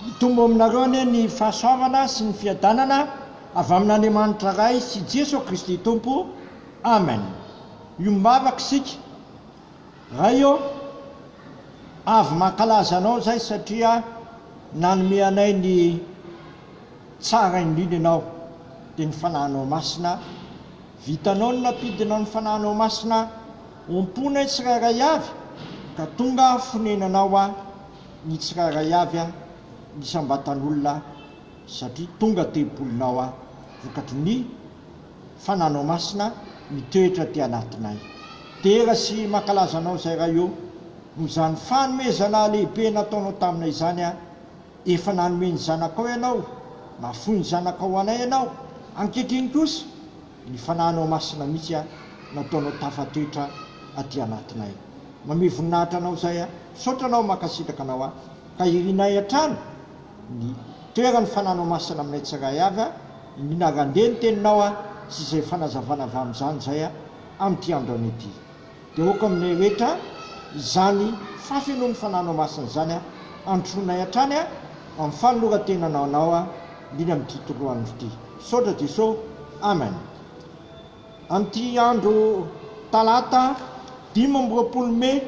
Hitombo aminareo anie ny fahasoavana sy ny fiadanana avy amin'Andriamanitra Ray sy Jeso Kristy Tompo. Amen. Miombavaka isika. Ray ô, avy mankalaza Anao izay satria nanome anay ny tsara indrindra Ianao, dia ny Fanahinao Masina. Vitanao ny nampidinao ny Fanahinao Masina omponay tsirairay avy ka tonga fonenanao aho. ny tsirairay avy an ny isam-batan'olona satria tonga tempolinao aho vokatry ny fananao masina mitoetra aty anatinay. Dera sy mankalaza anao izay Ray ô, noho izany fanomezana lehibe nataonao taminay izany an, efa nanome ny Zanakao ianao, nahafoy ny Zanakao ho anay ianao, ankehitriny kosa, Ny fanahinao masina mihitsy an nataonao tafatoetra aty anatinay. Mamehy voninahitra anao izay an. Misaotra anao mankasitraka anao an. Ka irinay hatrany ny toeran'ny fanahinao masina aminay tsiray avy an. Iniana randeha ny teninao an sy izay fanazavana avy amin'izany izay an amin'ity andro anio ity. Dia aoka aminay rehetra izany fahafenoan'ny Fananao Masina izany an, androsoanay hatrany an, amin'ny fanoloran-tenanao Anao an, indrindra amin'ity tontolo andro ity. Misaotra Jeso. Amen. Amin'ity andro talata dimy amby roapolo mey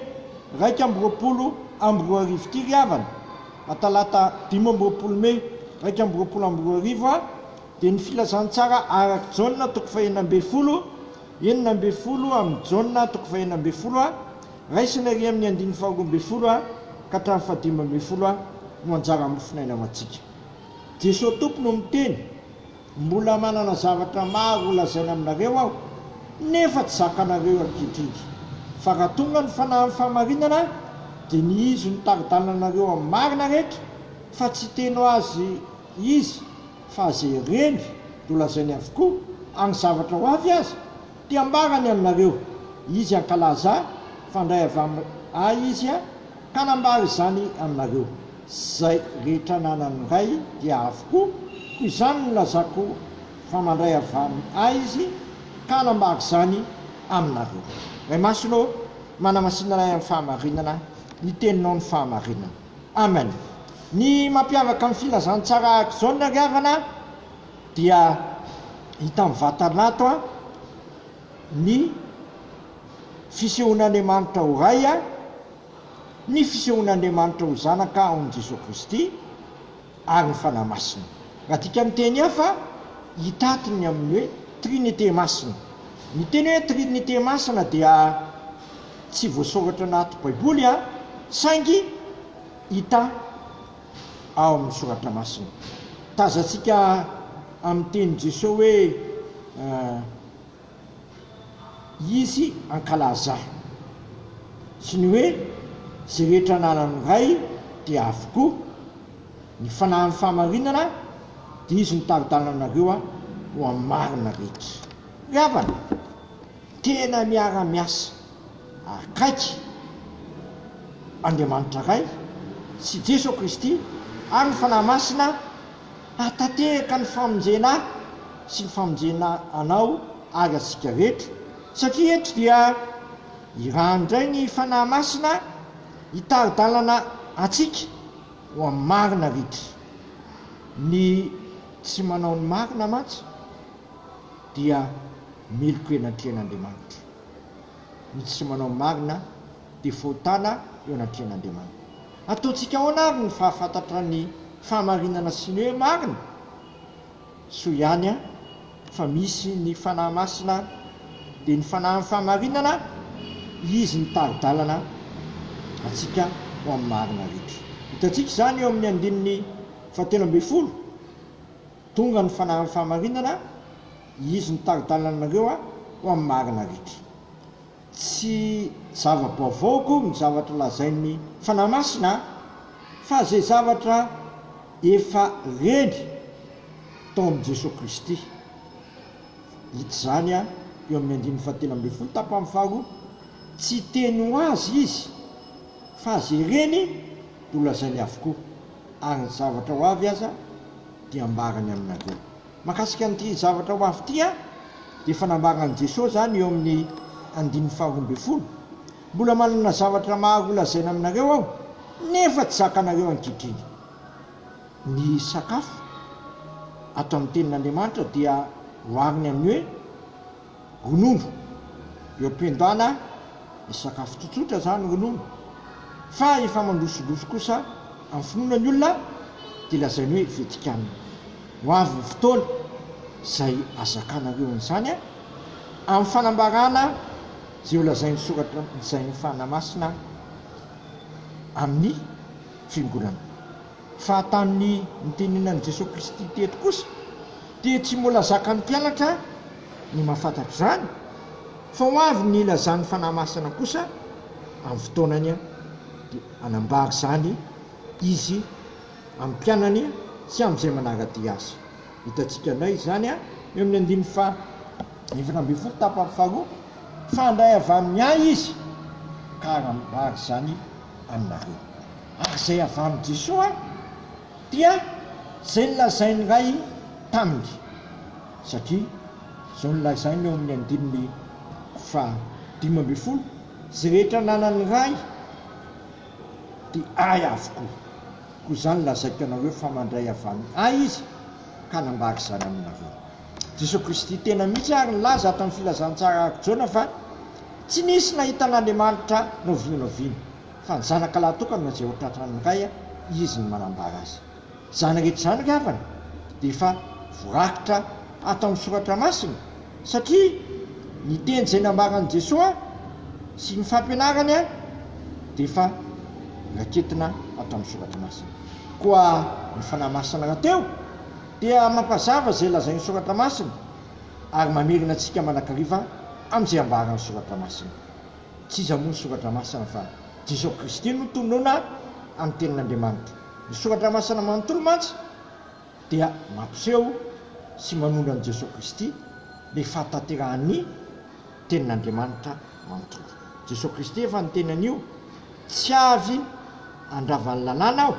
iraika amby roapolo amby roa arivo ity ry havana, a talata dimy amby roapolo mey iraika amby roapolo amby roa arivo an, dia ny filazantsara araka Jaona toko fahenina ambin'ny folo, Enina ambin'ny folo amin'ny Jona, toko fahenina ambin'ny folo a, raisina ery amin'ny andininy faharoa ambin'ny folo a ka hatramin'ny fahadimy ambin'ny folo a, no anjaran'ny mofonaina ho antsika. Jesoa Tompo no miteny, Mbola manana zavatra maro holazaina aminareo aho, nefa tsy zakanareo eo ankehitriny. Fa raha tonga ny fanahin'ny fahamarinana, dia ny izy no tari-dalanareo amin'ny marina rehetra, fa tsy hiteny ho azy izy fa ze reny do lazainy avokoa agny zavatra ho avy aza te ambarany aminareo izy ankalaza fa ndray avy am ahy izy a ka nambara izany aminareo zay rehetra nanany ndray dia avokoa ko izany no lazako fa mandray avy am ahy izy ka nambara izany aminareo. Ray Masina ô, manamasinanay amin'ny fahamarinana ny teninao ny fahamarinana. Amen. Ny mampiavaka ny filazantsara araka izao ny nariavana a, dia hita amin'ny vatanato a, ny fisehoan'Andriamanitra ho Ray a, ny fisehoan'Andriamanitra ho Zanaka ao amin'i Jesoa Kristy, ary ny Fanahy Masina. Raha adika amin'ny teny hafa, hitaty ny amin'ny hoe Trinite Masina. Ny teny hoe Trinite Masina dia tsy voasoratra anaty Baiboly saingy hita ao amin'ny Soratra Masina. Tazantsika amin'ny tenin'i Jesoa hoe izy ankalaza sy ny hoe izay rehetra ananan'ny Ray dia avokoa, ny fanahin'ny fahamarinana dia izy mitari-dalana anareo ho amin'ny marina rehetra. Ry havana, tena miara-miasa akaiky Andriamanitra Ray sy Jeso Kristy ary ny Fanahy Masina, Hahatanteraka ny famonjena ahy sy ny famonjena anao ary antsika rehetra, satria eto dia iraha indray ny Fanahy Masina hitari-dalana antsika ho amin'ny marina ritra. Ny tsy manao ny marina mantsy dia melokoenankena Andriamanitra. Ny tsy manao marina dia fahotana eo anatrehan'Andriamanitra. Ataontsika ahoana ary ny fahafantatra ny fahamarinana sy ny hoe marina? Soa ihany fa misy ny Fanahy Masina, dia ny Fanahin'ny fahamarinana, Izy mitari-dalana antsika ho amin'ny marina rehetra. Hitantsika izany eo amin'ny andininy fahatelo ambin'ny folo, Tonga ny Fanahin'ny fahamarinana, Izy mitari-dalana anareo ho amin'ny marina rehetra. Tsy zava-baovao koa ny zavatra lazain'ny Fanahy Masina fa izay zavatra efa reny tao amin'i Jesoa Kristy. Hita izany eo amin'ny andininy fahatelo ambin'ny folo tapany faharoa, Tsy hiteny ho azy Izy fa izay reny no lazainy avokoa, ary ny zavatra ho avy aza dia ambarany aminareo. Mahakasika an'ity zavatra ho avy ity dia efa nambaran'i Jesoa izany eo amin'ny andininy faharoa ambin'ny folo, Mbola manana zavatra maro holazaina aminareo Aho, nefa tsy zakanareo ankehitriny. Ny sakafo, ato amin'ny tenin'Andriamanitra, dia ohariny amin'ny hoe. Ronono, eo am-piandana ny sakafo tsotsotra izany ronono fa efa mandrosolofo kosa amin'ny finoana ny olona dia lazainy hoe Vetikanina. Ho avy ny fotoana izay azakanareo an'izany amin'ny fanambarana izay ho lazain'ny soratra izay ny fanahy masina amin'ny fiangonana. Fahatanin'ny nitenenan'i Jesoa Kristy teto kosa dia tsy mbola zakan'ny mpianatra ny mahafantatra izany fa ho avy ny ilazan'ny Fanahy Masina kosa amin'ny fotoanany dia hanambara izany Izy amin'ny mpianany sy amin'izay manara-dia Azy. Hitantsika indray izany eo amin'ny andininy faha efatra ambin'ny folo tapany faharoa fa handray avy amin'ny Ahy Izy ka hanambara izany aminareo. ary izay avy amin'i Jesoa dia izay nolazain'ny Ray taminy, satria izao no lazainy eo amin'ny andininy faha dimy ambin'ny folo, Izay rehetra ananan'ny Ray dia Ahy avokoa, koa izany lazaiko anareo fa mandray avy amin'ny Ahy Izy ka hanambara izany aminareo. Jesoa Kristy tena mihitsy ary nilaza ato amin'ny Filazantsara araka Jona fa tsy nisy nahita an'Andriamanitra novinanoviana. Fa ny zanaka lahy tokana no izay ho tratran'ny ray izy no manambara azy. Izany rehetra izany ry havana dia efa voarakitra ato amin'ny soratra masina satria ny teny izay nambaran'i Jesoa sy ny fampianarany dia efa raketina ato amin'ny soratra masina. Koa ny Fanahy Masina rahateo dia mampazava izay lazain'ny soratra masina ary mamerina antsika manakariva amin'izay ambaran'ny soratra masina. Tsy iza moa ny soratra masina fa Jesosy Kristy no tonona amin'ny tenin'Andriamanitra. Ny soratra masina manontolo mantsy dia mampiseho sy manondro an'i Jesosy Kristy ilay fahatanterahan'ny tenin'Andriamanitra manontolo. Jesosy Kristy efa niteny an'io, Tsy avy handrava ny lalàna aho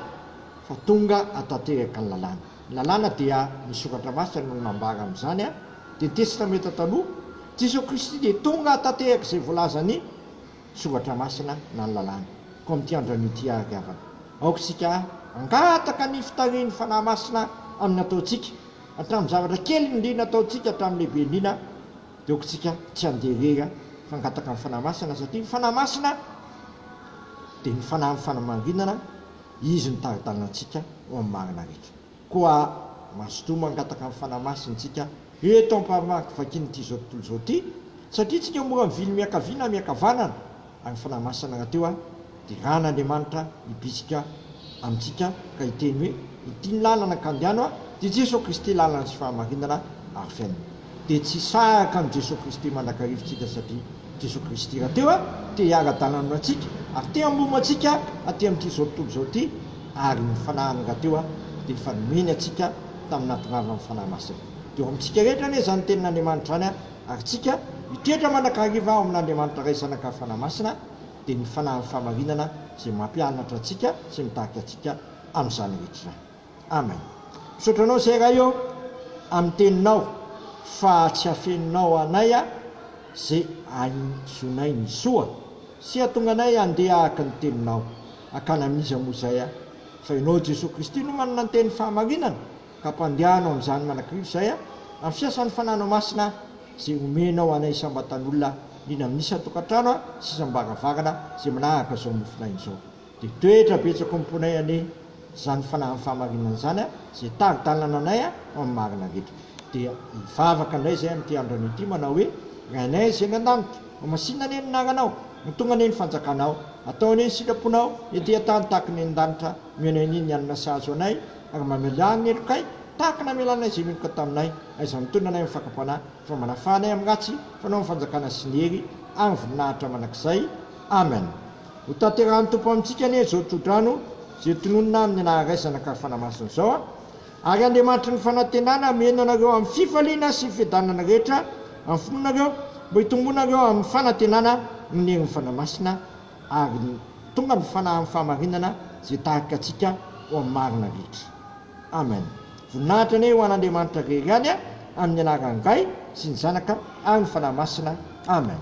fa tonga hatanteraka ny lalàna. Lalàna dia ny soratra masina no nambara an'izany an, dia ny testamenta taloha, Jesoa Kristy dia tonga hahatantehaka izay voalazan'ny soratra masina na ny lalàna. Koa amin'ity andro anio ity ary havana, aoka isika hangataka ny fitarihin'ny Fanahy Masina amin'ny ataontsika, hatramin'ny zavatra kely indrindra ataontsika hatramin'ny lehibe indrindra, dia aoka isika tsy handeha irery fa hangataka ny Fanahy Masina satria ny Fanahy Masina dia ny Fanahy mifana marinana, Izy no tari-dalantsika ho amin'ny marina rehetra. Koa mazotoa mangataka ny Fanahy Masintsika eto am-parimaniko vakian'ity izao tontolo izao ity, satria tsika mora mivily miankavia na miankavanana, ary ny Fanahy Masina rahateo ary dia Ran'Andriamanitra hibitsika amintsika ka hiteny hoe, Ity ny lalana ka andehano, dia Jesoa Kristy lalana sy fahamarinana ary fiainana. dia tsy hisahaka an'i Jesoa Kristy mandrakariva isika satria Jesoa Kristy rahateo a te hiara-dalana amintsika ary te hamono antsika aty amin'ity izao tontolo izao ity ary ny fanahiny rahateo a dia efa nomeny antsika tamin'ny nahatongavan'ny Fanahy Masina dia eo amintsika rehetra anie izany tenin'Andriamanitra izany a ary tsika hitoetra mandrakariva ao amin'Andriamanitra Ray Zanaka ary Fanahy Masina dia ny Fanahin'ny Fahamarinana izay mampianatra antsika sy mitarika antsika amin'izany rehetra izany. Amen. Misaotra anao zay Ray ô amin'ny teninao fa tsy afeninao anay ze ahizonay ny soa sy hatonga anay handeha hahaka ny teninao. Hakana amin'iza moa zay a. Fa ianao Jesoa Kristy no manana ny teny fahamarinana ka ampandehanao amin'izany manakirivo izay a amin'ny fiasan'ny Fananao Masina a ze omenao anay isam-batan'olona indrindra amin'ny isan-tokantrano a sy isam-baravarana ze manahaka zao mofonaina izao. Dia toetra betsaka omponay anie zany fanahin'ny fahamarinana zany a, ze tari-dalana anay a ho amin'ny marina rehetra. Dia hivavaka indray zay amin'ity andro anio ity manao hoe, Rainay zay any an-danitra, homasinina anie ny anaranao, ho tonga anie ny fanjakanao, atao anie ny sitraponao ety an-tany tahaka ny any an-danitra, omeo anay anie ny hanina sahazo anay, ary mamelà amin'ny helokay tahaka namelanay zay meloka taminay, aiza no mitondra anay amin'ny fakam-panahy, fa manafaha anay amin'ny ratsy, fa anao ny fanjakana sy ny hery ary ny voninahitra mandrakizay. Amen. Ho tanterahan'ny Tompo amintsika anie izao tsodrano izay tononina amin'ny anaharaisana ka fanamasina izao a! Ary Andriamanitry ny fanantenana hameno anareo amin'ny fifaliana sy fiadanana rehetra amin'ny finoanareo mba hitombonareo amin'ny fanantenana noho ny herin'ny Fanahy Masina ary tonga ny fanahy amin'ny fahamarinana izay hitarika antsika ho amin'ny marina rehetra. Amen. Voninahitra anie ho an'Andriamanitra irery ihany a! Amin'ny anaran'ny Ray sy ny Zanaka ary ny Fanahy Masina. Amen.